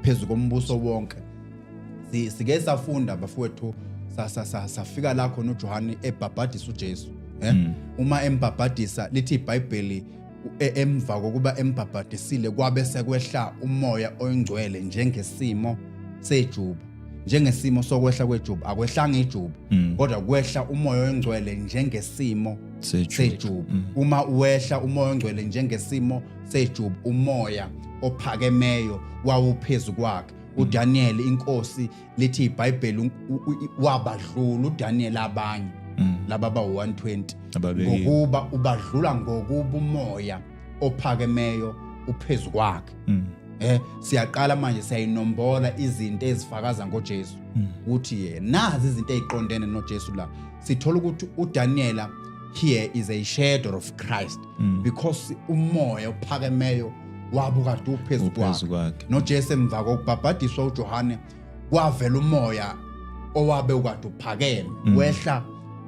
phezu kombuso wonke sike safunda bafowethu safika la khona uJohane ebhabhadisa uJesu eh mm. uma embhabhadisa lithi iBhayibheli e, emva kokuba embhabhadisile kwabe sekwehla umoya oyingcwele njengesimo sejuba njengesimo sokwehla kwejuba akwehlanga ijuba mm. kodwa kwehla umoya oyingcwele njengesimo sejuba mm. uma uwehla umoya oyingcwele njengesimo sejuba umoya ophakemeyo wawuphezu kwakhe uDaniel inkosi lithi iBhayibheli wabadlula uDaniel abanye mm. laba ba 120 ngokuba ubadlula ngokuba umoya ophakemeyo uphezu kwakhe mm. eh siyaqala manje siyayinombola izinto ezifakaza ngoJesu mm. ukuthi yena nazi izinto eziqondene noJesu la sithola ukuthi uDaniela here is a shadow of Christ mm. because umoya ophakemeyo wabo kade uphezu kwakhe nojesu emva kokubhabhadiswa ujohane kwavela umoya owabe ukade uphakeme mm. wehla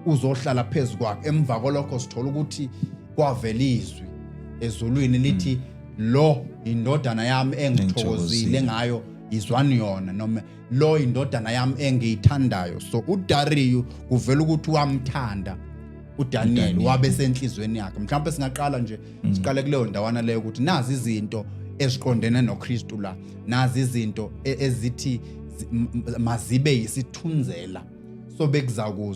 uzohlala phezu kwakhe emva kolokho sithola ukuthi kwavela izwi ezulwini lithi mm. lo indodana yami engithokozile ngayo izwani yona noma lo indodana yami engiyithandayo so udariyu kuvela ukuthi wamthanda udaniel wabe senhliziyweni yakhe mhlawumbe singaqala nje mm. siqale kuleyo ndawana leyo ukuthi nazi izinto eziqondene nokristu la nazi izinto e-, ezithi mazibe yisithunzela so bekuzakuzwa